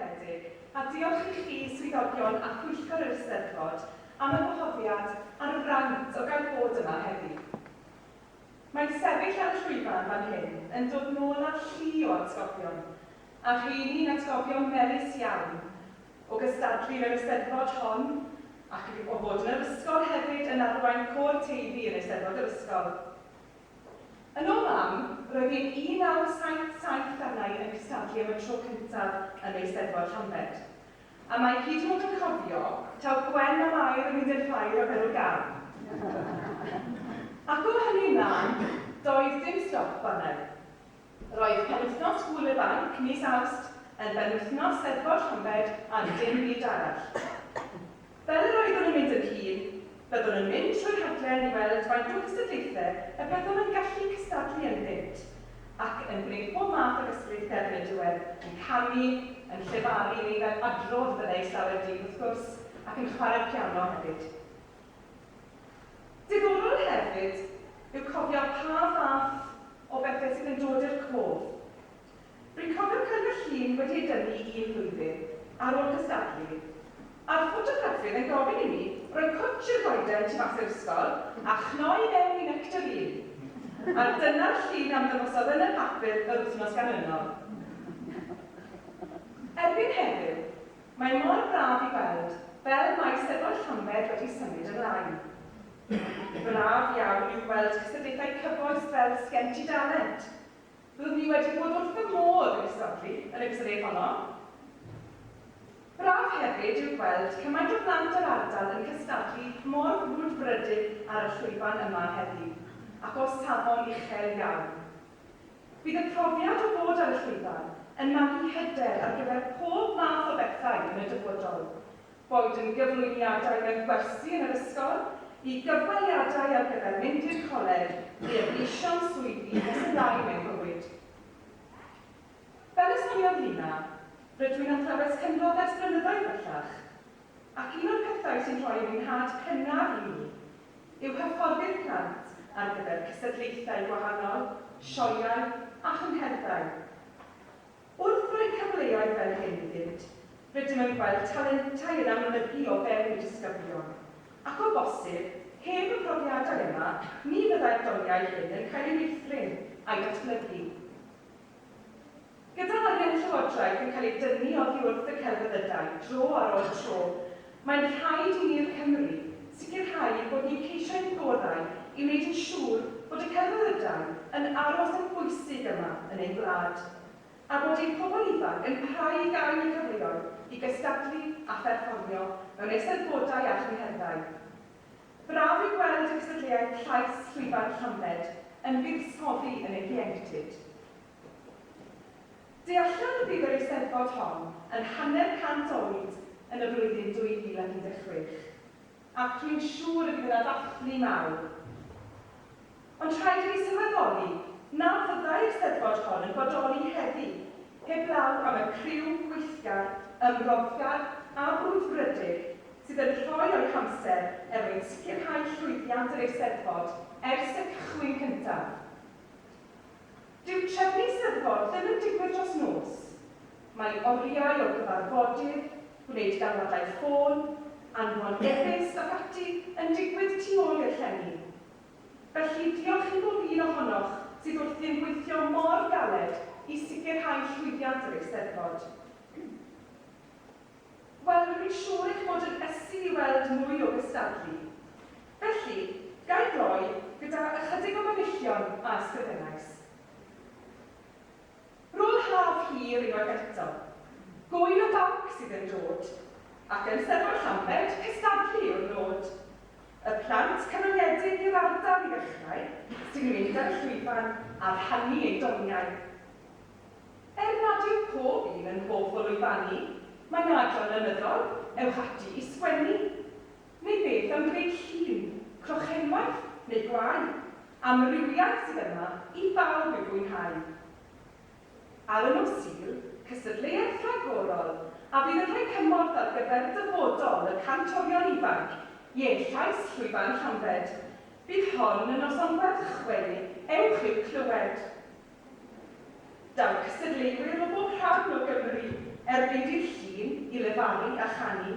Garedig, a diolch i chi, swyddogion a phwyllgor yr Eisteddfod, am y gwahoddiad a'r fraint o gael bod yma heddi. Mae sefyll ar y llwyfan fan hyn yn dod nôl â llu o atgofion, a rheini'n atgofion melys iawn, o gystadlu yn yr Eisteddfod hon, ac o fod yn yr ysgol hefyd yn arwain côr Teifi yn Eisteddfod yr ysgol. Yn ôl mam, roedd hi'n 1977 arna i yn cystadlu am y tro cyntaf yn Eisteddfod Llambed. A mae hyd yn oed yn cofio taw Gwen a Mair yn mynd i'r ffair a bero gân. Ac o hynny ymlaen, doedd dim stop arna i. Roedd penwythnos Gŵyl y Banc mis Awst yn benwythnos Steddfod Llambed am dim byd arall. Fel yr oeddwn yn mynd yn hŷn, byddwn yn mynd trwy'r rhaglen i weld faint o gystadlaethau y byddwn yn gallu cystadlu ynddynt, ac yn gwneud pob math o gystadlaethau erbyn y diwedd, yn canu, yn llefaru neu fel adrodd fyddai llawer dyn wrth gwrs, ac yn chwarae piano hefyd. Diddorol hefyd yw cofio pa fath o bethau sydd yn dod i'r cof. Rwy'n cofio cyrfa llun wedi ei dynnu un flwyddyn ar ôl cystadlu, a'r ffotograffydd yn gofyn i mi roi cwtsh i'r goeden tu fas i'r ysgol a chnoi i mewn i nectarîn, a dyna'r llun a ymddangosodd yn y papur yr wythnos ganlynol. Erbyn heddiw, Mae mor braf i weld fel mae Eisteddfod Llambed wedi symud ymlaen. Braf iawn yw gweld cystadlaethau cyfoes fel Sgen ti dalent? Byddwn ni wedi bod wrth fy modd yn cystadlu yn y cystadleuaeth honno. Braf hefyd yw gweld cymaint o blant yr ardal yn cystadlu mor frwdfrydig ar y llwyfan yma heddiw, ac o safon uchel iawn. Bydd y profiad o fod ar y llwyfan yn magu hyder ar gyfer pob math o bethau yn y dyfodol, boed yn gyflwyniadau mewn gwersi yn yr ysgol, i gyfweliadau ar gyfer mynd i'r coleg neu y gweision swyddi nes ymlaen mewn bywyd. Fel y soniodd Lina, rydw i'n athrawes cynradd ers blynyddoedd bellach. Ac un o'r pethau sy'n rhoi mwynhad cynnar i mi yw hyfforddi'r plant ar gyfer cystadlaethau gwahanol, sioeau a chyngherddau. Wrth roi cyfleoedd fel hyn iddynt, rydym yn gweld talentau yn amlygu o fewn y disgyblion, ac o bosib, heb y profiadau yma, ni fyddai'r doniau hyn yn cael eu meithrin a'i datblygu. Gyda arian y Llywodraeth yn cael ei dynnu oddi wrth y celfyddydau dro ar ôl tro, mae'n rhaid i ni'r Cymry sicrhau bod ni'n ceisio ein gorau i wneud yn siŵr bod y celfyddydau yn aros yn bwysig yma yn ein gwlad, a bod ein pobl ifanc yn parhau i gael y cyfleoedd i gystadlu a pherfformio mewn eisteddfodau a chyngherddau. Braf yw gweld y cystadleuaeth llais Llwyfan Llanbed yn buddsoddi yn eu hieuenctid. Deallan y bydd yr Eisteddfod hon yn hanner cant oed yn y flwyddyn 2016, ac rwy'n siŵr y bydd yna ddathlu mawr. Ond rhaid i ni sylweddoli na fyddai'r Eisteddfod hon yn bodoli heddi heblaw am y criw gweithgar, ymroddiad a brwdfrydig sydd yn rhoi o'u hamser er mwyn sicrhau llwyddiant yr Eisteddfod ers y cychwyn cyntaf. Dyw trefnu Eisteddfod ddim yn digwydd dros nos. Mae oriau o gyfarfodydd, gwneud galwadau ffôn, anfon e-byst ac ati yn digwydd tu ôl i'r llenni. Felly, diolch i bob un ohonoch sydd wrthi'n gweithio mor galed i sicrhau llwyddiant yr Eisteddfod. Wel, rwy'n siŵr eich bod yn ysu i weld mwy o gystadlu. Felly, ga i gloi gyda ychydig o fanylion a ysgrifennais. Roedd haf hir unwaith eto. Gŵyn o banc sydd yn dod. Ac yn Steddfod Llambed, cystadlu yw'r nod. Y plant canonyedig i'r ardal i ddechrau, sy'n mynd ar y llwyfan a rhannu eu doniau. Er nad yw pob un yn hoff o lwyfannu, mae'n adran lenyddol, ewch ati i sgwennu. Neu beth am greu llun, crochenwaith neu gwlâu? Amrywiaeth sydd yma i bawb i'w fwynhau. Ar y nos Sul, cystadleuaeth ragorol a fydd yn rhoi cymorth ar gyfer dyfodol y cantorion ifanc, ie, llais Llwyfan Llambed. Bydd hon y noson werth chweu, ewch i'w clywed! Daw cystadleuwyr o bob rhan o Gymru erbyn dydd Llun i lefaru a chanu.